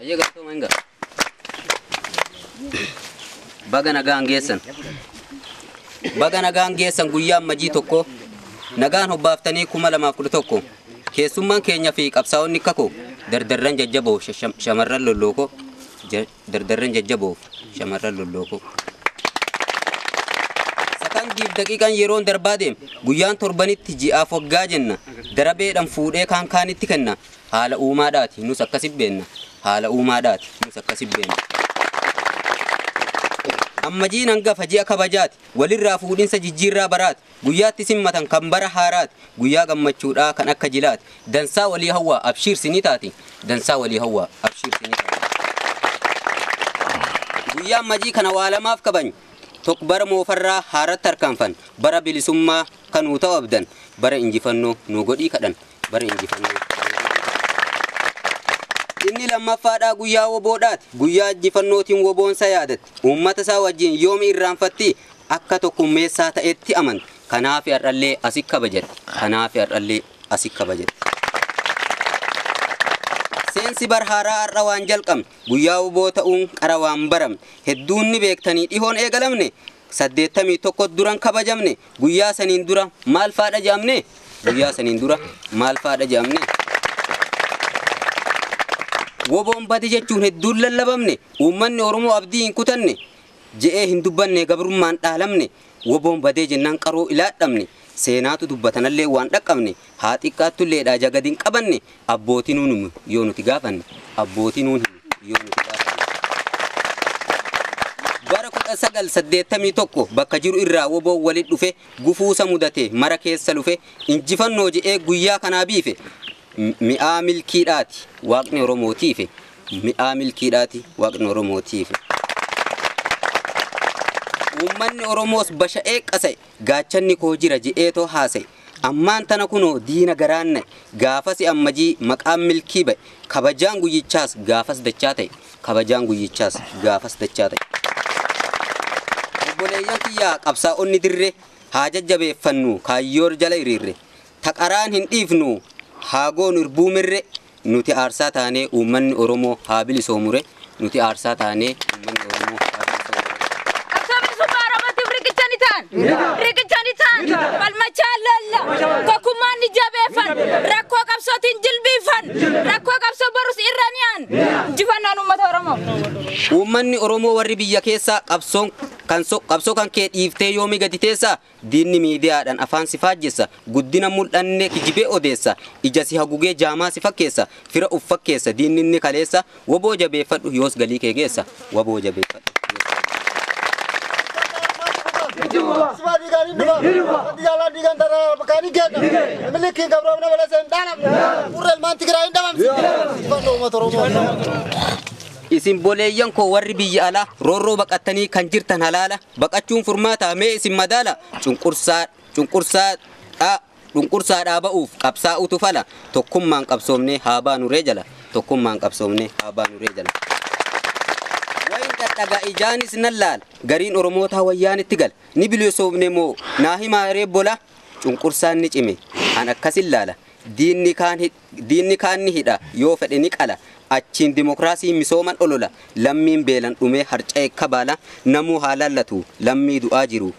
Ayyee galatooma hin gala. Baga nagaan geessan. Baga nagaan geessan guyyaa ammajii tokko nagaan hobbaaftanii kuma lamaaf kudha tokko keessummaan keenya fi qabsaa'onni kakoo dardarran jajjaboo shasha- shamarran lollookoo ja- Dardarreen jajjaboof shamarran lollookoo. Sakandiif daqiiqaan yeroon darbaa deem guyyaan torbanitti ji'aaf waggaa jenna darabeedhaan fuudhee kaan kaanitti kenna haala uumaadhaati nus akkasi beenna haala uumaadhaati nus akkasi beenna. Ammajiin hangafa ji'a kabajaati walirraa fuudhinsa jijjiirraa baraati Guyyaatti sin matan kan bara haaraati Guyyaa gammachuudhaa kan akka jilaati Dansaa walii hawwaa abshiir sini taati Dansaa walii hawwaa abshiir sini taati Guyyaan majii kana waa lamaaf kabany Tok bara moofarraa haaratti harkaanfan Bara bilisummaa kanuu ta'u abdan Bara injifannoo nuu godhii kadhan bara injifannoo Inni lammaffaadhaa guyyaa woboodhaati. Guyyaa injifannootiin woboon sa yaadatti. Uummata isaa wajjin yoom irraanfattii? Akka tokkummeessaa ta'etti amanta. Kanaafi har'allee asi kabajatti. Kanaafi har'allee asi kabajatti. Seensi bar haaraa har'a waan jalqabne guyyaa woboo ta'uun qara waan baramne hedduun ni beektanii dhihoon eegalamne saddeettamii tokko duran kabajamne Guyyaa saniin dura maal fa'aa dhaja'amne? Guyyaa saniin dura maal fa'aa dhaja'amne? Woboon bade jechuun hedduun lallabamne, uummanni Oromoo abdii hin kutanne, je'ee hin dubbanne gabrummaan dhaalamne, woboon badee jennaan qaroo ilaadhamne, seenaatu dubbatanallee waan dhaqqabne, haa xiqqaattullee dhaa ija gad hin qabanne abbootii nuun himu yoo nuti gaafanne abbootii nuun himu yoo nuti gaafanne. Bara 1981 bakka jiru irraa woboon walit dhufe gufuusa mudate mara keessa lufe injifannoo je'ee guyyaa kanaa biife M- mi'aa milkii dhaati waaqni Oromoo tiife mi'aa milkii dhaati waaqni Oromoo tiife. Uummanni Oromoos basha'ee qasa'e gaachanni koo jira je'ee too haasa'e Ammaan tana kunoo diina garaan na'e, gaafasi Ammajii maqaan milkii ba'e, kabajaan guyyichaas gaafas dachaa ta'e, kabajaan guyyichaas gaafas dachaa ta'e. Obboleeyyan kiyya qabsaa'onni dirre, haa jajjabeeffannu kaayyoor jala hiriirre, ta qaraan hin dhiifnu haa goonu irbuu mirre, Nuti aarsaa taanee uummanni Oromoo haa bilisoomure Nuti aarsaa taanee uummanni Oromoo haa bilisoomure. Qabsoo bilisummaa Oromootiif riqicha ni ta'an. Riqicha ni ta'an. Falmachaan loolla. Tokkummaan ni jabeeffan. Rakkoo qabsootiin jilbiiffan. Rakkoo qabsoo borus irra ni aan. Injifannoon uummata Oromoo. Uummanni Oromoo warri biyya keessaa qabsoon kan so- qabsoo kan kee dhiiftee yoomii gadi teessaa Diinni miidiyaadhan afaan si faajjessa Guddina mul'anne kijibee odeessa Ija si hagugee jaamaa si fakkeessa Fira uf fakkeessa diinni inni kaleessa Wbo jabeeffadhu yoos galii kee geessa Wbo jabeeffadhu yoos galii kee Sifaa dhiigaan hin dhufa. Wanti jaalaan dhiigaan tarraa bakkaan hin geedda. Milikiin gabroomina balasa hin dhaalamne. Furra ilmaan Tigiraa hin dhabamsi. Injifannoo uummata Oromoo. Isin boleeyyan koo warri biyya alaa roorroo baqattanii kan jirtan halaala Baqachuun furmaataa? Mee isin madaalaa! Cunqursaa, cunqursaa dha, cunqursaa dhaa ba'uuf qabsaa'uutu fala. Tokkummaan qabsoomnee haa baanu ree jala, tokkummaan qabsoomnee haa baanu ree jala. Wayin dhadhaga ijaanis nan laala, gariin Oromootaa Wayyaanetti gala. Ni bilisoomne moo naa himaa ree bola? Cunqursaan ni cime, an akkasin laala, diinni kaan hidh. Diinni kaan ni hidha, yoo fedhe ni qala, achiin dimokraasiin misooman olola, lammiin beelan dhumee harca'e kabaala, namuu haa laallatu, lammii du'aa jiru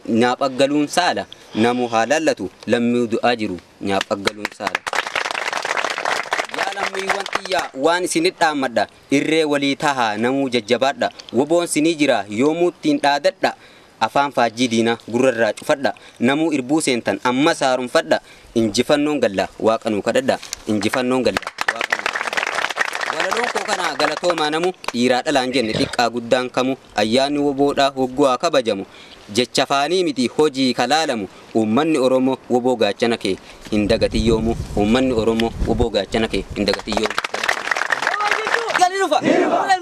nyaaphaaggaluun saala, namuu haa laallatu, lammii du'aa jiru nyaaphaaggaluun saala. Yaa lammiiwwan tiyya waan isinit dhaammadha, irree walii tahaa namuu jajjabaadha, woboon sinii jira yoomuu ittiin dhaadadha, Afaan faajjii diinaa gurra irraa cufadhaa, namuu irbuu seentan ammas haaromfadhaa, injifannoon gallaa waaqa nuu kadhadhaa, injifannoon gallaa waaqa nuu kadhadhaa. Walaloon koo kanaa galatoomaa namuu, dhiiraa dhalaan jenne xiqqaa guddaan kamuu, ayyaanni wbo dhaa hogguu haa kabajamu, jecha afaanii mitii hojii ka laalamu, uummanni Oromoo wbo gaachana kee hin dagatin yoomuu, uummanni Oromoo wbo gaachana kee hin dagatin yoomuu. Galatoomaa!